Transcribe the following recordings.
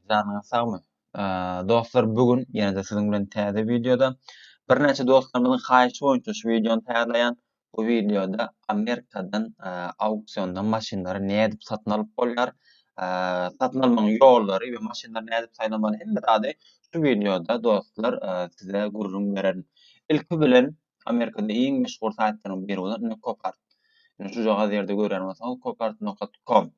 Janyňyz sagmy? Dostlar, bu gün ýene-de siziň bilen täze wideoda. Birnäçe dostlarymyzyň haýyşy boýunça şu wideony taýýarlaýan. Bu wideoda Amerikadan auksiondan maşynlary nädip satyn alyp bolýar, satyn almagyň ýollary we maşynlary nädip saýlamaly hemme zady şu wideoda dostlar size gürrüň bererin. Ilki bilen Amerikada iň meşhur saýtlaryň biri bolan Copart. Şu jagaz ýerde görýän bolsaňyz copart.com.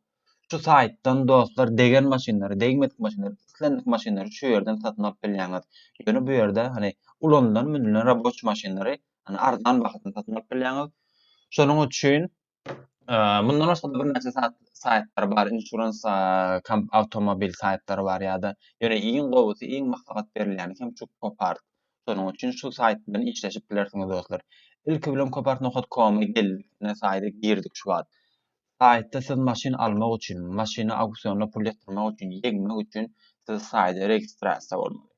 Şu saýtdan dostlar degen maşynlary, degmedik maşynlary, islendik maşynlary şu ýerden satyn alyp bilýäňiz. Ýöne bu ýerde hany ulanylan, münülen raboçi maşynlary hany arzan bahadan satyn alyp bilýäňiz. Şonuň üçin mundan başga-da birnäçe saýtlar bar, insurans awtomobil saýtlary bar ýa-da ýöne iň gowusy, iň maslahat berilýäni hem şu Copart. Şonuň üçin şu saýt bilen işleşip bilersiňiz dostlar. Ilki bilen copart nokat koma geldik, ine saýda girdik şu wagt. Saýtda siz maşyn almak üçin, maşyny auksionda pul ýatyrmak üçin, ýeňmek üçin siz saýda registrasiýa bolmaly.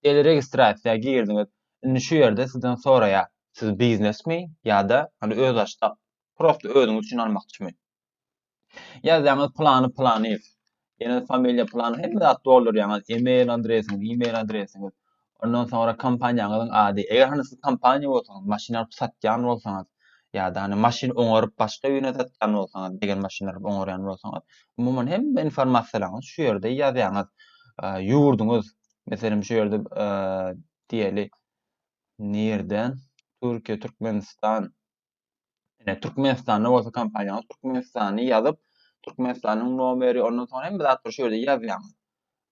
Diýeli registrasiýa girdiňiz, indi şu ýerde sizden soraýar, siz biznesmi ýa-da hany öz açsak, prosto özüňiz üçin almakçymy? Ýazýaňyz Plany Planyýew, Ýene familiýa plan hemme zat doldurýaňyz, e-mail adresiňiz, e-mail adresiňiz. Ondan soňra kompaniýaňyzyň ady. Eger hany siz kompaniýa bolsaňyz, maşyn alyp satýan bolsaňyz, ýa-da hany maşyn oňaryp başga birine satýan bolsaňyz, degen maşyn alyp oňarýan bolsaňyz, umuman hemme informasiýalaryňyzy şu ýerde ýazýaňyz. Ýurduňyz, meselem şu ýerde diýeli, nirden, Türkiýe, Türkmenistan, Ine Türkmenistanda bolsa kompaniýa Türkmenistany ýazyp, Türkmenistanyň nomeri, ondan soňra hemme zatlar şu ýerde ýazýaň.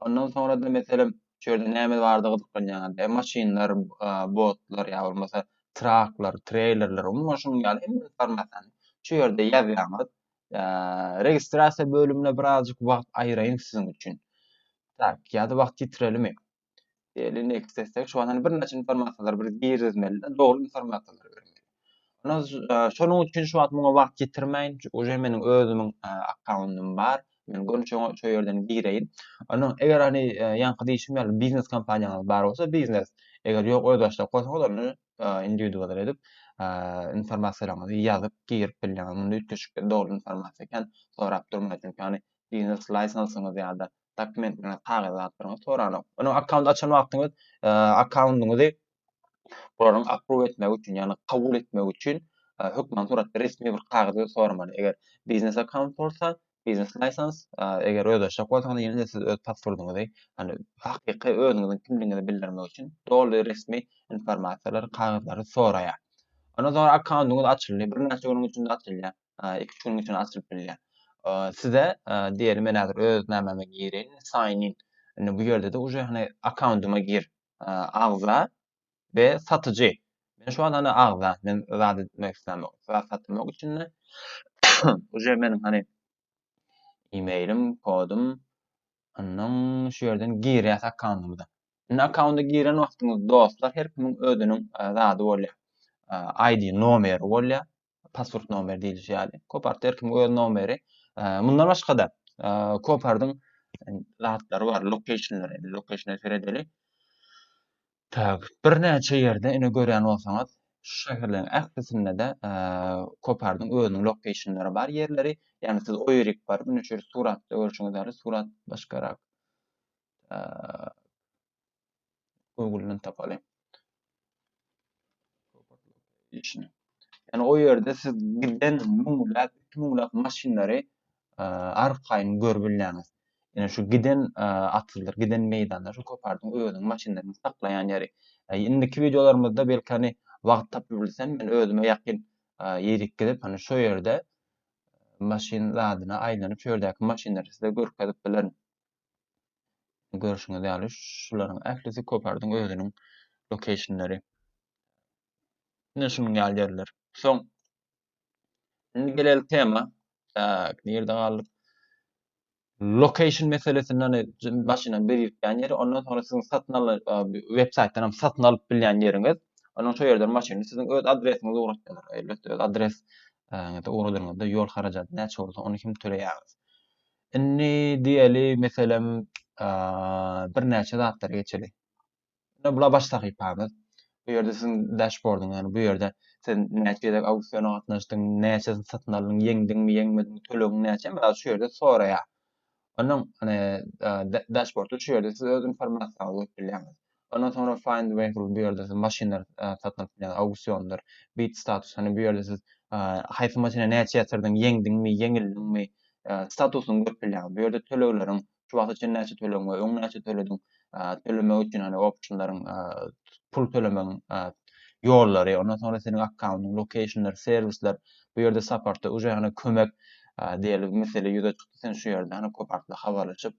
Ondan soňra-da meselem şu ýerde näme bardy gyzyklanýaňyzda, e, maşynlar, e, botlar ýa bolmasa traklar, treýlerler, umuman şunuň ýaly hemme informasiýany şu ýerde ýazýaňyz. E, registrasiýa bölümine birazjyk wagt aýyraýyn siziň üçin. Tak, ýa-da wagt ýitirelimmi? Diýeli, next etsek, şu wagtdan bir näçe informasiýalar bir girizmeli, dogry informasiýalar bermeli. Ýöne şonuň üçin şu wagt muňa wagt ýitirmäýin, uje meniň özümiň akkauntym bar. Men görün şoňa şu ýerden gireýin. Onuň eger hani ýaňky diýşim ýaly biznes kompaniýaňyz bar bolsa, biznes. Eger ýok, öz başdak bolsaňyz, onda indiwidual edip informasiýalaryňyzy ýazyp girip bilýäňiz. Munda üýtgeşikli dogry informasiýa ekän, sorap durmaýar. Çünki hani biznes lisensiňiz ýa-da dokumentlerini, kagyz zatlaryňyzy soranok. Onuň akkaunt açan wagtyňyz e, akkauntyňyzy bularyň approve etmegi üçin, ýagny kabul etmegi üçin e, hökman suratda resmi bir kagyzy soramaly. Eger biznes akkaunt bolsa, biznes lisans, e, eger öz aşak bolsaňyz, ýene-de siz öz pasportyňyzy, ýagny hakyky özüňiziň kimligiňizi bildirmek üçin doly resmi informasiýalary, kagyzlary soraýar. Ondan soňra akkauntyňyz açyldy. Birnäçe günüň içinde açylýar. iki-üç günüň içinde açylyp bilýär. Size diýeli men häzir öz nämäme gireýin, sign in. Indi bu ýerde-de uje hany akkauntyma gir, agza we satyjy. Men şu wagt hany agza, men zat etmek islämok. Zat satmak üçin uje meniň hany e-mailim, kodum, Ondan şu yerden girýäs akkauntymyza. Indi akkaunta giren wagtyňyz dostlar her kimiň özüniň e, zady bolýar. E, ID nomeri bolýar. pasport nomeri diýilişi ýaly. Kopartda her kimiň öz nomeri. Mundan başga-da, Kopardyň zatlary bar, lokationlary, lokationlary seredeli. Tak, birnäçe ýerde ine görýän bolsaňyz, şu şäherleriň ählisinde-de Kopardyň özüniň lokationlary bar ýerleri. Ýagny siz o ýerik baryp, ine şu ýerde suratda görşüňiz ýaly, surat başgarak. Google'dan tapalyň. işini. Yani o yerde siz giden müňläp, iki müňläp maşynlary e, arkaýyn görüp bilýäňiz. Yani şu giden e, atyldyr, giden meýdanlar, şu kopardyň özüň maşynlaryny saklaýan ýeri. E, indiki videolarymyzda belki hani wagt tapyp bilsem, men özüme ýakyn e, ýerik gidip, hani şu ýerde maşyn zadyna aýlanyp, şu ýerdäki maşynlary size görkezip bilerin. Görşüňiz ýaly şularyň ählisi Kopardyň özüniň lokeýşnleri. Ine şunuň ýaly ýerler. Soň indi geleýlik tema. Tak, nirde galdyk? Lokeýşn meselesini hani başyna bir ýetýän ýeri, ondan soňra siziň satyn alan web saýtdan hem satyn alyp bilýän ýeriňiz. Onuň şu ýerden maşyny siziň öz adresiňize ugratýarlar. Elbetde öz adres ýa-da ugradanyňyzda ýol harajaty näçe bolsa ony hem töleýäňiz. Indi diýeli meselem birnäçe zatlary geçeli. Indi bula baş sahypamyz. Bu ýerde siziň dashbordyň, ýagny bu ýerde sen näçe gezek auksiona gatnaşdyň, näçesini satyn aldyň, ýeňdiňmi, ýeňmediňmi, tölegiň näçe, mysal şu ýerde soraýar. Onuň dashbordy şu ýerde siz öz informasiýaňyzy goýup bilýäňiz. Ondan soňra find vehicle bu ýerde siz maşynlar satyn alyp bilýäňiz, auksiýondyr. Bid status, hany bu ýerde siz haýsy maşyna näçe ýatyrdyň, ýeňdiňmi, ýeňildiňmi, statusyňy görüp bilýäňiz. Bu ýerde tölegleriň, şu wagta çenli näçe tölegiň we öň näçe tölediň, tölemek üçin hany optionlaryň, pul tölemegiň ýollary, ondan soňra seniň akkauntyň, lokeýşnler, serwisler, bu ýerde saportda, uje hany kömek diýeli mesele ýüze çykdy, sen şu ýerde hany köp artly habarlaşyp,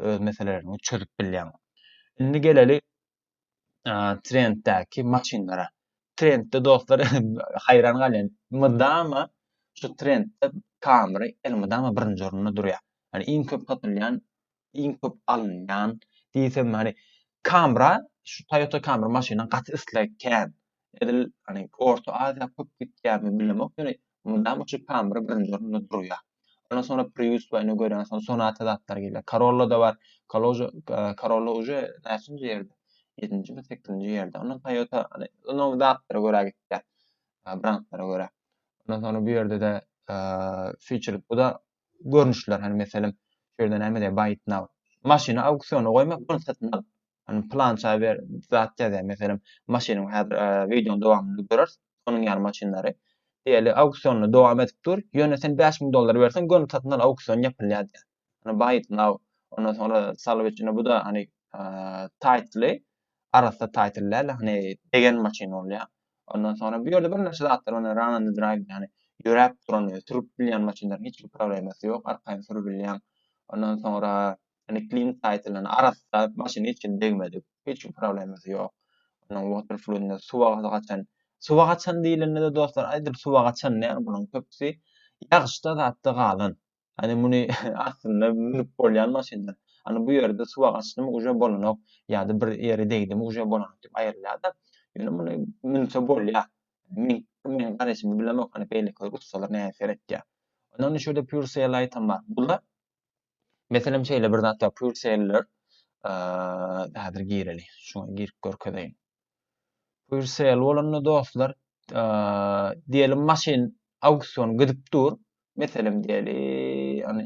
öz meselelerini çözüp bilýäň. Indi geleli trenddäki maşynlara. Trendde dostlar haýran galýan. Mydama şu trendde Camry elmydama birinji orunda durýar. Yani iň köp satylýan, iň köp alynýan diýsem hani Camra şu Toyota Camry maşynyň gaty isleg kän. edil hani Orta Aziýa köp gitýärmi bilemok ýöne mydama şu Pamyr birinji orunda durýar. Ondan sonra Prius we ine görýän sonra Sonata zatlar gelýär. Corolla da bar. Kaloja Corolla uje näçinji ýerde? 7-nji mi 8-nji ýerde. Ondan Toyota hani ino zatlara görä gitýär. Brandlara görä. Ondan sonra bu ýerde-de feature bu da görnüşler hani meselem şu ýerde näme diýär buy it now. Maşyny auksiona goýmak, bunu satyn alyp Hani plança bir zat ýazýar, meselem, maşynyň häzir e, wideonyň dowamynda görers, onuň ýaly maşynlary. Diýeli, auksionda dowam edip dur, ýöne sen 5000 dollar berseň, göni satyn al auksion ýapylýar diýär. Hani buy it now. Ondan soňra salwy içinde bu da hani e, titly, arassa title däl, hani degen maşyn bolýar. Ondan soňra bu ýerde birnäçe zatlar bar, run and drive, ýani ýöräp duran, sürüp bilýän maşynlaryň hiç bir problemasy ýok, arkaýyn sürüp bilýän. Ondan soňra Indi klient saýtyndan arassa maşyn hiç kim degmedik. Hiç kim problemasy ýok. Onuň water fludynda suwa gazy gaçan. Suwa gaçan diýlende-de dostlar aýdyp suwa gaçan däl bularyň köpüsi ýagyşda zatda galan. Ýani muny aslynda münüp bolýan maşynlar. Ýani bu ýerde suwa gaçdymy uje bolanok ýa-da bir ýere degdimi uje bolanok diýip aýrylýar-da. Ýöne muny münse bolýar. Meň meň garaýşymy bilemok hany beýlekiler ussalar näme seretýär. Ondan şu ýerde pure sail aýtam bar. Bular Meselem şeýle bir zat ýa pure seller häzir gireli. Şuňa girip görkezeýin. Pure sell bolanda dostlar diýelim maşyn auksion gidip dur. Meselem diýeli, ýani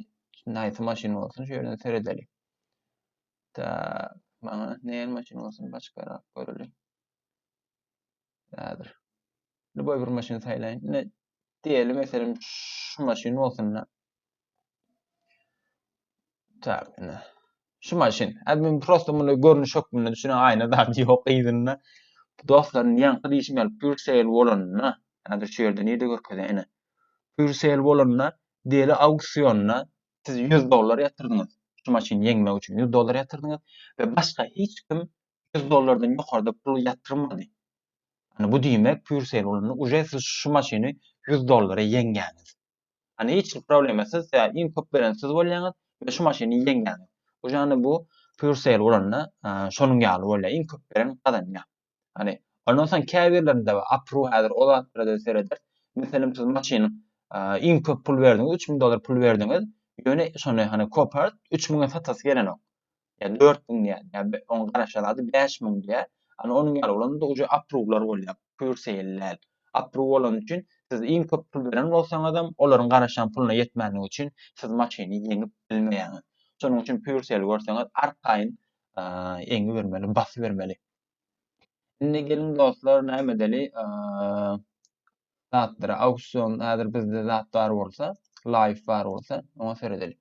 nähili maşyn bolsun şu ýerden seredeli. Ta maňa nähili maşyn bolsun başgarak göreli. Häzir. Любой bir maşyn saýlaýyn. Diýeli meselem şu maşyn bolsun. Tak, ine. Şu maşyn. Hadi men prosta muny görnüş hökmünde düşünen aýna zady ýok yzynda. Dostlarym ýaňky diýişim ýaly pure sale bolanda, häzir şu ýerde nirde görkezýär ine. Pure sale bolanda deli auksionda siz 100 dollar ýatyrdyňyz. Şu maşyny ýeňmek üçin 100 dollar ýatyrdyňyz we başga hiç kim 100 dollardan ýokarda pul ýatyrmady. Yani bu diýmek pure sale bolanda uje siz şu maşyny 100 dollara ýeňýäňiz. Hani hiç bir problema siz ya iň köp beren siz bolýaňyz we şu maşyny ýeňýäňiz. Bu jany bu pure sale bolanda şonuň ýaly bolýar. Iň köp beren gazanýar. Hani ondan soň käbirlerinde we apru häzir o zatlara sereder. Meselem siz maşynyň iň köp pul berdiňiz, 3000 dollar pul berdiňiz. Ýöne şony hani kopart 3000-e satasy gelenok. ýa dört müň diýýän, ýa oň garaşýan zady bäş müň diýýär. Ana onuň ýaly bolanda uje apruwlar bolýar, pür seýil däl. Apruw bolany üçin siz iň köp pul beren bolsaňyzam, olaryň garaşýan puluna ýetmänligi üçin siz maşyny ýeňip bilmeýäňiz. Şonuň üçin pür seýil görseňiz arkaýyn eňibermeli, basybermeli. Indi geliň dostlar näme edeli? zatlara auksion häzir bizde zat bar bolsa live bar bolsa oňa seredeli.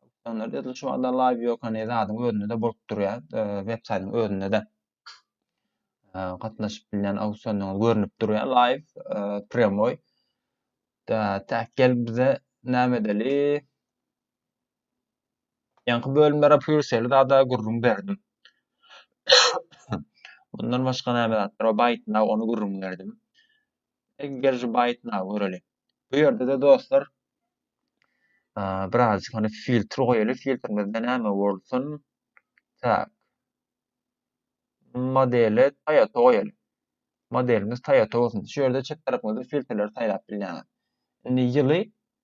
Auksionlar diýdi şu anda live ýok hani zadyň özünde de bolup durýar e, web saýtyň özünde de e, gatnaşyp bilýän auksionlaryň görnüp durýar live e, premoi. Da tak gel bize näme edeli? Ýaňky bölümlere pürçeli zada gürrüň berdim. Mundan başga näme zatlar bar? Baýtnag, ony gürrüň berdim. Eger şu baýtnagy göreli. Bu ýerde-de dostlar, birazjyk hany filtr goýaly, filtrimizde näme bolsun? Tak. Modele Toyota goýaly. Modelimiz Toyota bolsun. Şu ýerde çep tarapyňyzda filtrleri saýlap bilýäňiz. Indi ýyly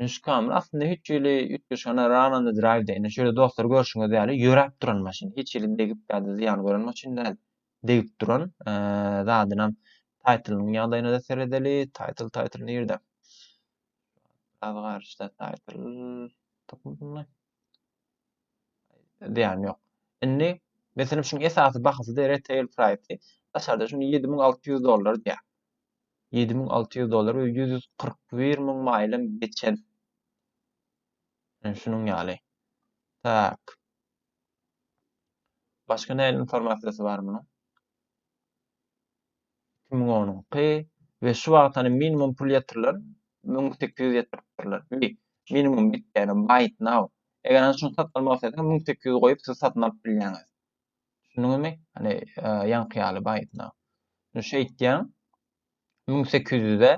Nuşkamyr aslynda hiç hili üýtgeşana Rana-da Drive-de, ine şeýle dostlar görşüňiz ýaly ýöräp duran maşyn. Hiç hili degip ýa-da zyýan gören maşyn däl. Degip duran zadynam taýtlynyň ýagdaýyna-da seredeli. Taýtl, taýtl nirde? Biraz garyşda taýtl tapyp bilmän. Diýen ýok. Indi meselem şuň esasy bahasy de retail price. Daşarda şuny 7600 dollar diýä. 7600 dollar we 141 müň maýlym geçen. Yani şunuň ýaly. Tak. Başga näme informasiýasy bar munuň? iki müň onuňky we şu wagt hani minimum pul ýatyrylan müň sekiz ýüz ýatyrypdyrlar. Bi minimum bit ýaly buy it now. Eger hani şuny satyn almak isleseňiz müň sekiz ýüz goýup siz satyn alyp bilýäňiz. Düşündiňizmi? Hani ýaňky ýaly buy it now. Şunu şeýtýäň. Müň sekiz ýüze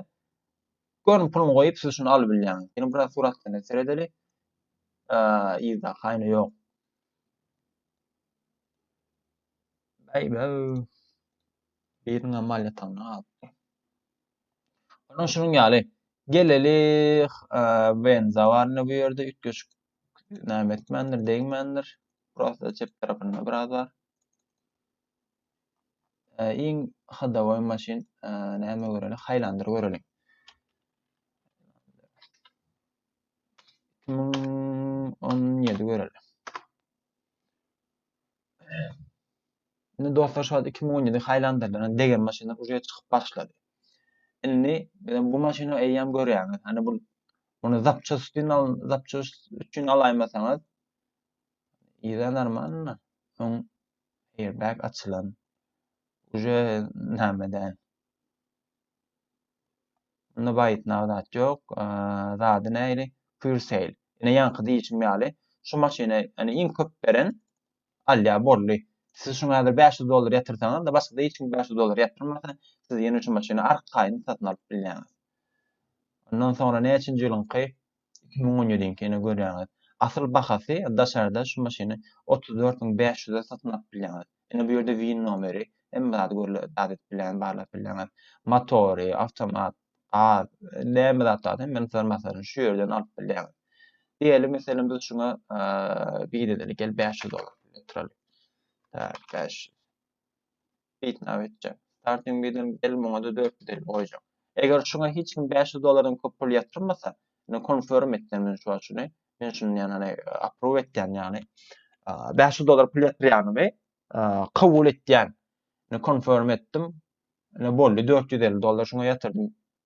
görün puluny goýup siz şuny alyp bilýäňiz. Ýene biraz suratlaryna seredeli. Ýa-da haýny ýok. Beýbäw! Biriniňem mal ýatagynda galypdy. Onuň şunuň ýaly. Gelelik, Wen zawarny bu ýerde üýtgeşik näme etmändir, degmändir. Prosta çep tarapynda biraz bar. Iň hodowoý maşyn näme göreli? Haýlandyr göreli. 2017 göreli. Indi dostlar şu wagt 2017 haýlandyrylan degen maşynlar uje çykyp başlady. Indi bu maşyny eýýäm görýäňiz. Hani bu muny zapças üçin al, zapças üçin alaýmasaňyz ýa normalny soň airbag açylan. Uje näme däl. Bunda baýytnaw zat ýok. Zady näli? Pure sale. Ine ýaňky diýişim ýaly, şu maşyny ýani iň köp beren alýa boldy. Siz şuňa häzir 500 dollar ýatyrsaňyz-da, başga-da hiç kim 500 dollar ýatyrmasa, siz ýene şu maşyny arkaýyn satyn alyp bilýäňiz. Ondan soňra näçinji ýylyňky? iki müň on ýediňki ine görýäňiz asyl bahasy daşarda şu maşyny otuz dört müň bäş ýüze satyn alyp bilýäňiz ine bu ýerde win nomeri hemme zady görle zat edip bilýäňiz barlap bilýäňiz motory awtomat gaz näme zat bar hemmesini sar masaryny şu ýerden alyp bilýäňiz diýeli meselem biz şuňa win edeli gel bäş ýüz dollar ýatyraly bäş Bitnäp etjek. Starting bid hem gel muňa-da dört ýüz elli goýjak. Eger şuňa hiç kim bäş ýüz dollardan köp pul ýatyrmasa, indi konfirm etden men şu açyny. Men şuny ýagny approve etýän ýagny. Bäş ýüz dollar pul ýatyrýanymy kabul etýän. Indi konfirm etdim. Indi boldy dört ýüz elli dollar şuňa ýatyrdym.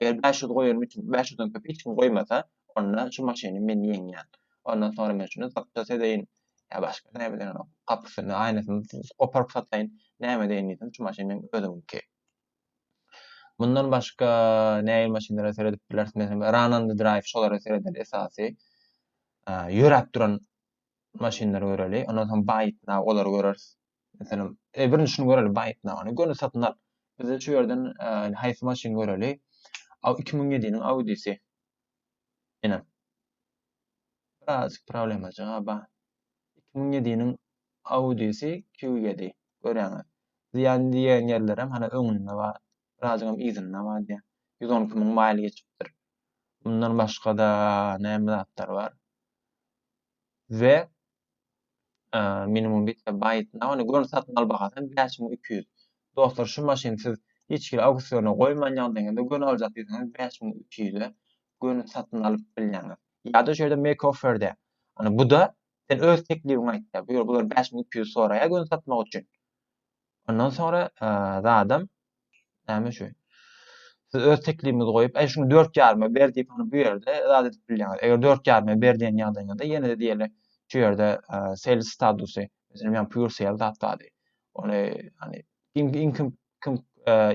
Eger bäş ýüz goýanym üçin bäş ýüzden köp hiç kim goýmasa, onda şu maşyny men ýeňýän. Ondan soňra men şuny satjak edeýin, ýa başga näme bilerin, gapysyny, aýnasyny goparyp sataýyn, näme edeýin diýsem, şu maşyn meň özümiňki. Mundan başga nähili maşynlara seredip bileris? Meselem, Run on the Drive şolara seredeli esasy. Ýöräp duran maşynlary göreli. Ondan soň Buy it now olary göreris. Meselem, e, birinji şuny göreli, baýtnamany göni satyn al. Bize şu ýerden e, haýsy maşyn göreli? Aw 2007-niň Audi-si. Ene. Biraz problema jogaba. 2007-niň Audi-si Q7. Görýäňiz. Diýen diýen ýerlerem hana öňünde bar. Birazam yzynda bar diýen. 112 müň maýl geçipdir. Bundan başga-da näme zatlar bar? we minimum bitme byte na ony görün satyn al bahasy bäş müň iki ýüz dostlar şu maşyny siz hiç hili auksiona goýman ýagdaýyňyzda göni aljak diýseňiz bäş müň iki ýüze göni satyn alyp bilýäňiz ýada şeýle make offer de ony buda sen öz teklibiňi aýt da bu ýol bular bäş müň iki ýüz soraýa göni satmak üçin Ondan soňra zadam näme şu? Siz öz teklibinizi goýup, "Aý şuny 4 ýaryma ber" diýip, ony bu ýerde zat edip bilýäňiz. Eger 4 ýaryma ber diýen ýagdaýyňyzda ýene-de diýeli şu ýerde sales statusy, meselem, ýa pure sale zat bardy. Ony hani iň iň köp kim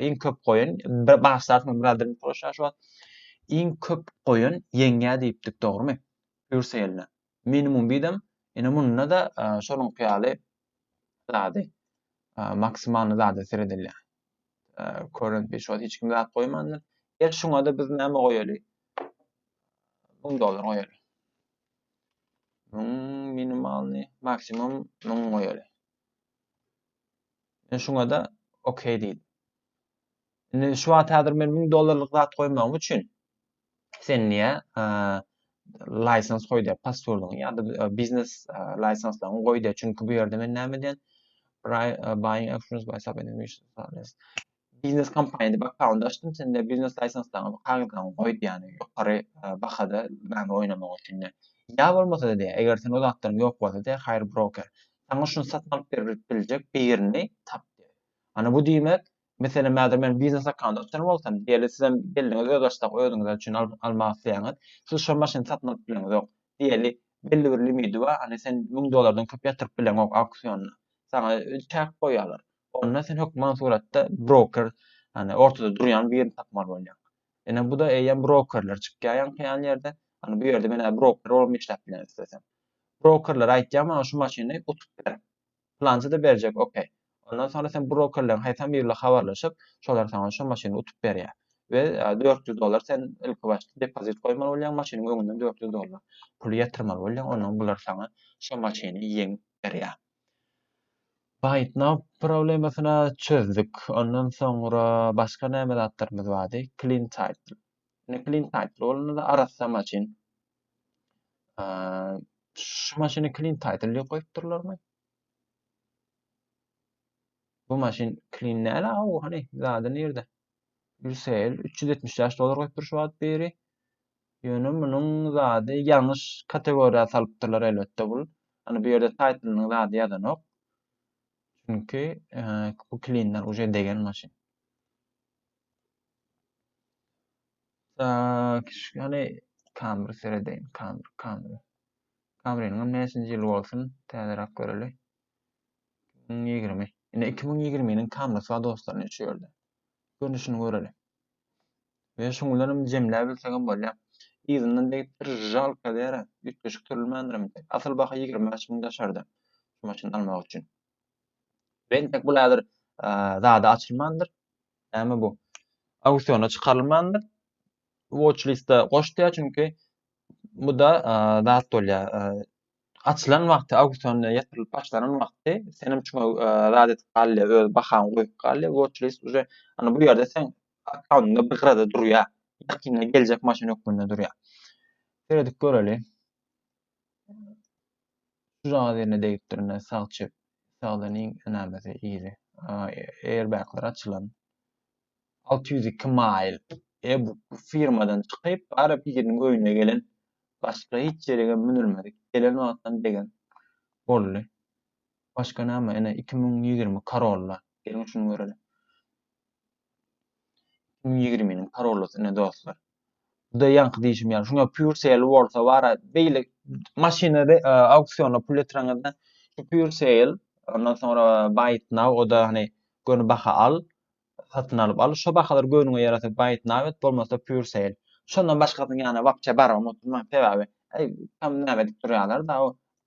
iň köp goýun bir başlarsmy bir adam proşa şu wagt iň köp goýun ýeňýä diýipdik, dogrumy? Pure sale. Minimum bidem, ine munda da şonuň ýaly zady maksimalny zada seredilýär. Current bir şol hiç kim zat goýmandyr. Gel şuňa da biz näme goýaly? 1000 dollar goýaly. 1000 minimalny, maksimum 1000 goýaly. Men şuňa da OK diýdim. Indi şu wagt häzir men 1000 dollarlyk zat goýmagym üçin sen niye license goý diýýär, passwordyňy ýa-da e, biznes e, lisenslaryňy goý diýýär. Çünki bu ýerde men näme diýen? E, buying actions by sub biznes kompaniýa diýip akkaunt açdym, sen de biznes lisenslaryňy, kagyzlaryňy goý diýýär. Ýokary e, bahada näme oýnamak üçin de. Ýa bolmasa diýýär, eger sen o zatlaryň ýok bolsa diýýär, hire broker. Saňa şuny satyn alyp berip biljek birini tap diýýär. Ana bu diýmek, Meselem, häzir men biznes hakanda açan bolsam, diýeli, sizem belliňiz öz açsak özüňize üçin almak isleýäňiz. Siz şo maşyny satyn alyp bileňizok. Diýeli, belli bir limidi bar, hany sen müň dollardan köp ýatyryp bileňok auksionda. Saňa çäk goýýarlar. Onda sen hökman suratda broker, hany ortada durýan birini tapmaly bolýaň. Ine bu-da eýýäm brokerler çykýar ýaňky-ýan ýerde. Hany bu ýerde men broker bolup işläp bilen islesem. Brokerlere aýtýan maňa şu maşyny utup ber. Plançada berjek ok. Ondan soňra sen brokerleriň haýsam biri bilen habarlaşyp, şolar saňa şo maşyny utup berýär. We dört ýüz dollar sen ilki başda depozit goýmaly bolýaň, maşynyň öňünden dört ýüz dollar pul ýatyrmaly bolýaň, ondan bular saňa şo maşyny ýeňip berýär. BuyItNow problemasyny çözdük. Ondan soňra başga näme zatlarymyz bardy? CleanTitle. Indi CleanTitle bolanda-da arassa maşyn. Şu maşyny clean title diýip goýupdyrlarmy? Bu maşyn clean näle aw hani zady nirde? Yusel 375 dolar goýupdyr şu wagt beri. Ýöne munuň zady ýalňyş kategoriýa salypdyrlar elbetde bul. Hani bu ýerde title-nyň zady ýazanok. Çünki bu clean-ler uje degen maşyn. Tak, ýöne kamera seredeýin, kamera, kamera. Kameranyň näçinji ýyly bolsun, täzeräk göreli. 2020. Ine 2020-niň kamerasy bar dostlar, şu ýerde. Görnüşini göreli. Ve şuň bilen hem jemläp bilsek hem bolýar. Yzyndan degipdir, jalka däre, üýtgeşik türlmändirim. Asyl baha 25 müň daşarda. Şu maşyny almak üçin. Bentek bul häzir zada açylmandyr. Näme bu? Auksiona çykarylmandyr. Watch liste goşdýar çünki bu-da zat bolýar. Açylan wagty auksiona ýetirilip başlanan wagty sen hem şoňa zat edip galýar, öz bahaňy goýup galýar. Watch list uje ana bu ýerde sen akkauntunda bir gyrada durýar. Ýakynda geljek maşyn hökmünde durýar. Seredip göreli. Şu jaga derine degipdirine sag çep sagdan iň enamesi iri. Airbaglar açylan. 602 mail. E bu firmadan çykyp ara biriniň öýüne gelen başga hiç ýerege münülmedik. Gelen wagtdan degen boldy. Başga näme ene 2020 karolla. Geliň şuny göreliň. 2020-niň parolysy ine dostlar. Buda ýaňky diýşim ýaly, şuňa pure sale bolsa bara beýle maşyny auksionda pul ýetireňizde şu pure sale ondan soňra buy it now oda hani göni baha al satyn alyp al şu bahalar göniňe ýarasa buy it now et bolmasa pure sale şondan başgasyny ýana wapçe barmam oturman sebäbi tam näme edip durýarlar da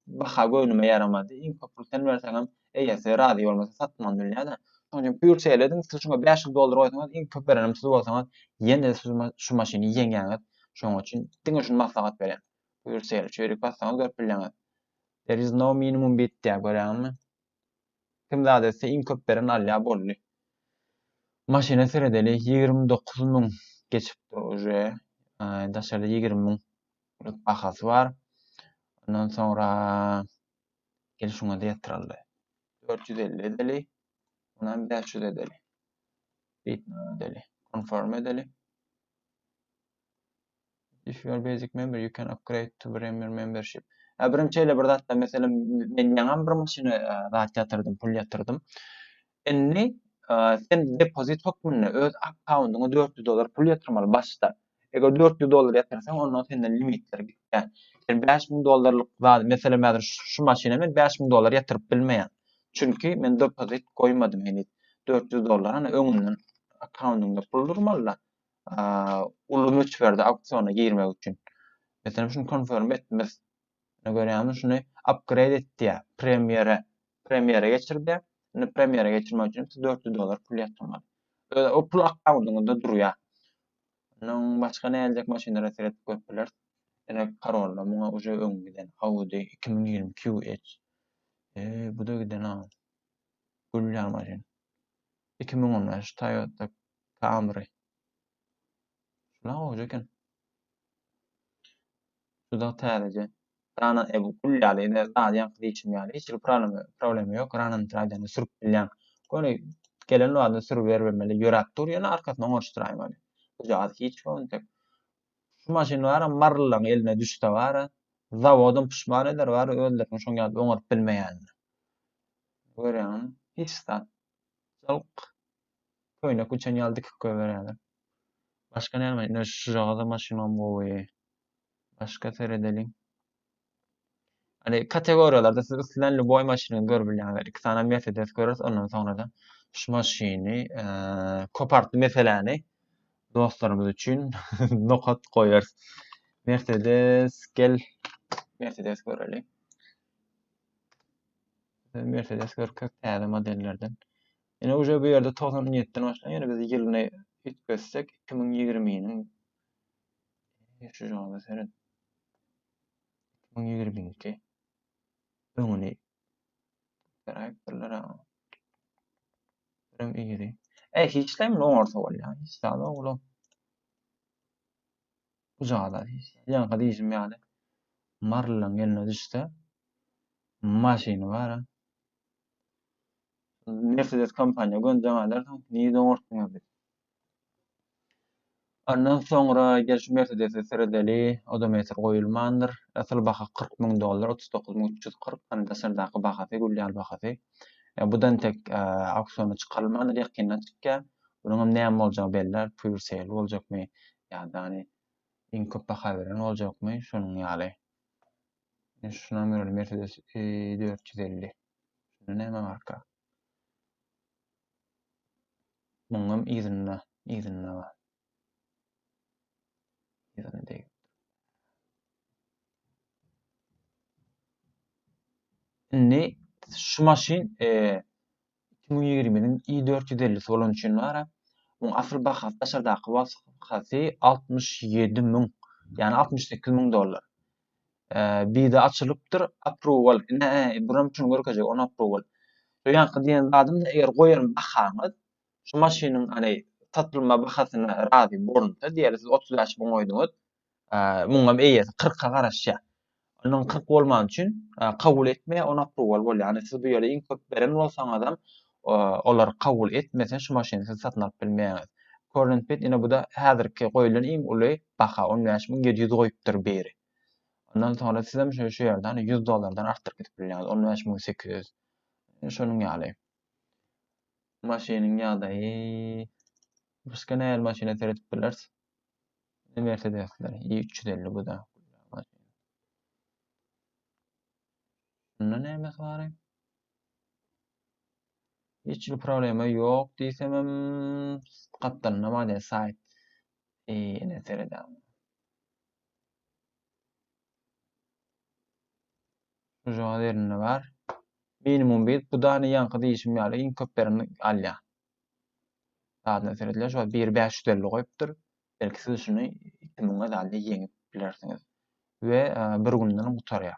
baha göwnüme ýaramady. Iň köp pul sen berseňem, eýesi razy bolmasa satman bilýär-de. Şonuň üçin pur şeýledim, siz şuňa bäş ýüz dollar goýsaňyz, iň köp berenem siz bolsaňyz, ýene-de siz şu maşyny ýeňýäňiz. Şonuň üçin diňe şuny maslahat berýän. Pur şeýle, çüýrük bassaňyz görüp bilýäňiz. There is no minimum bid diýýär, görýäňizmi? Kim zat etse iň köp beren alýa boldy. Maşyna seredeli ýigrimi dokuz müň geçipdir uje. Daşarda ýigrimi müňlik bahasy bar. Ondan soňra gel şuňa-da ýatyraldy. Dört ýüz elli edeli. Munam bäş ýüz edeli. Bitme edeli. Konform edeli. If you are basic member, you can upgrade to premier membership. Ya birim şeýle bir zatda meselem men ýaňam bir maşyna zat ýatyrdym, pul ýatyrdym. Indi sen depozit hökmünde öz akkaundyňa 400 dollar pul ýatyrmaly başda. Eger 400 dollar ýatyrsaň, onda senden limitler gitýär. Sen 5000 dollarlyk zat, meselem häzir şu maşyna men 5000 dollar ýatyryp bilmeýän. Çünki men depozit goýmadym heniz. 400 dollar öňünden akkaundyňda pul durmaly. uly möçberde auksiona girmek üçin. Meselem şunu konfirm etmez. Ne görýämiz şunu upgrade et diýär. Premiere premiere geçir diýär. Indi premiere geçirmek üçin 400 dollar pul ýatyrmaly. Öyle o pul akkaundunda durýar. Onun başka ne gelecek maşynlara seyredip görüp biler. Yine Corolla buna uca ön giden Audi 2020 QH. E, bu da giden ha. Gülýär maşyn. 2015 Toyota Camry. Şuna goýja eken. Şuda täzeje. Rana e bu gül ýaly, ine zadýan kız içim ýaly. Hiç bir problem, problem ýok. Ranany tradyany sürüp bilýän. Göni gelen wagtynda sürüp bermeli. Ýöräp dur, ýöne arkasyna oňaşdyraýyn weli. Bujagaz hiç ýokun tek. Şu maşyn bara marlylaryň eline düşse bara, zawodum pişman eder bar özleriniň şoň ýaly oňaryp bilmeýänini. Görýäňmi? Hiç zat. Jalk. Köýnek üçen ýaly dikip goýberýärler. Başga näme? Ine şujagaza maşynam gowy. Başga seredeliň. Hani kategoriýalarda siz islän ljuboý maşyny görüp bilýäňiz. Iki sany Mercedes göreris, ondan soňra-da şu maşyny kopartdy meseläni dostlarymyz üçin nokat goýarys. Mercedes gel Mercedes göreli. Mercedes görkek täze modellerden. Ine uje bu ýerde togsan netden başlaýan ýöne biz ýylyny üýtgetsek iki müň ýigriminiň şu jogada seret iki müň ýigrimiki öňüni garaýypdyrlar Rem iri. E hiçleýin ne orta bolýar. Hiç zada oglum. Bu zada hiç. Ýaňka diýjim ýaly. Marlaň eline düşse maşyny bar. Mercedes kompaniýa gönüden galarsyň, nji oňartdyňyz diýip. Ondan soňra gel şu Mercedesi seredeli, odometr goýulmandyr. Asyl baha kyrk müň dollar, otuz dokuz müň üç ýüz kyrk, ony daşardaky bahasy, gül ýaly bahasy. Bu da entek auksiona çykarylmandyr, ýakynda çykýar. Munuň hem näme boljagy belli, pure sale boljakmy ýa-da iň köp baha beren boljakmy, şonuň ýaly. Ine şuna göreli Mercedes 450. Şunda näme marka? Muňam yzynda, yzynda bar. Yzynda değil. Indi şu maşyn e, Iki müň ýigriminiň I dört ýüz ellisi bolan üçin bara. Muň asyl bahasy daşardaky bahasy altmyş ýedi müň, ýagny altmyş sekiz müň dollar. Bida açylypdyr, aprowal. Ine, buram şuny görkezjek, on aprowal. Şu ýanky diýen zadym da eger goýan bahaňyz şu maşynyň, ane, satylma bahasyna razy bolunsa, diýeli siz otuz bäş müň goýduňyz, Muňam eýesi kyrka garaşýar. Onuň kyrk bolmany üçin kabul etmeýär, on apruwal bolýar. Ýagny siz bu ýere iň köp beren bolsaňyzam, olar kabul etmese şu maşyny siz satyn alyp bilmeýäňiz. Körlen pit ine bu-da häzirki goýlan iň uly baha, on bäş müň ýedi ýüz goýupdyr biri. Ondan soňra sizem şu şu ýerden ýüz dollardan artdyryp gidip bilýäňiz, on bäş müň sekiz ýüz. Şonuň ýaly. Maşynyň ýagdaýy başga nähili maşyna seredip bileris? Mersedesler i350 bu da. Şunda näme bar? Hiç bir problema ýok diýsem hem gatdalynda bar diýen saýt. Ýene seredäm. Şu ýerde bar. Minimum bit bu da ýaňky diýişim ýaly iň köp bereni alýar. Zadna seredýän şo 1 550 goýupdyr. Belki siz şuny 2000 zadly ýeňip bilersiňiz. We e, bir günden gutarýar.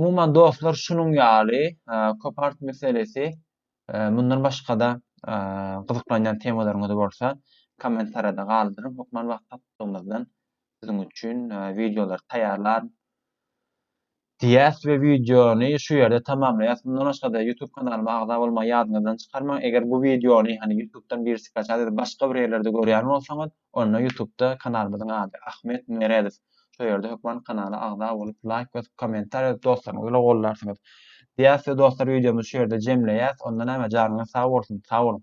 Umuman dostlar şunuň ýaly e, köp art meselesi e, mundan başga-da gyzyklanýan temalaryňyz bolsa kommentariýada galdyryň. Hökman wagtlygymyzdan siziň üçin wideolar taýýarlar. Diýýäs we wideony şu ýerde tamamlaýas. Mundan başga-da YouTube kanalyma agza bolmagy ýadyňyzdan çykarmaň. Eger bu wideony hany YouTube'dan birisi skaçat edip başga bir ýerlerde görýän bolsaňyz, onda YouTube'da kanalymyzyň ady, Ahmet Meredow. Şo ýerde hökman kanala agza bolup, laýk basyp, kommentariýa ýazyp dostlaryňyz bilen gollarsyňyz. Diýýäs we dostlar wideomyzy şu ýerde jemleýäs. Onda näme janyňyz sag bolsun. Sag boluň.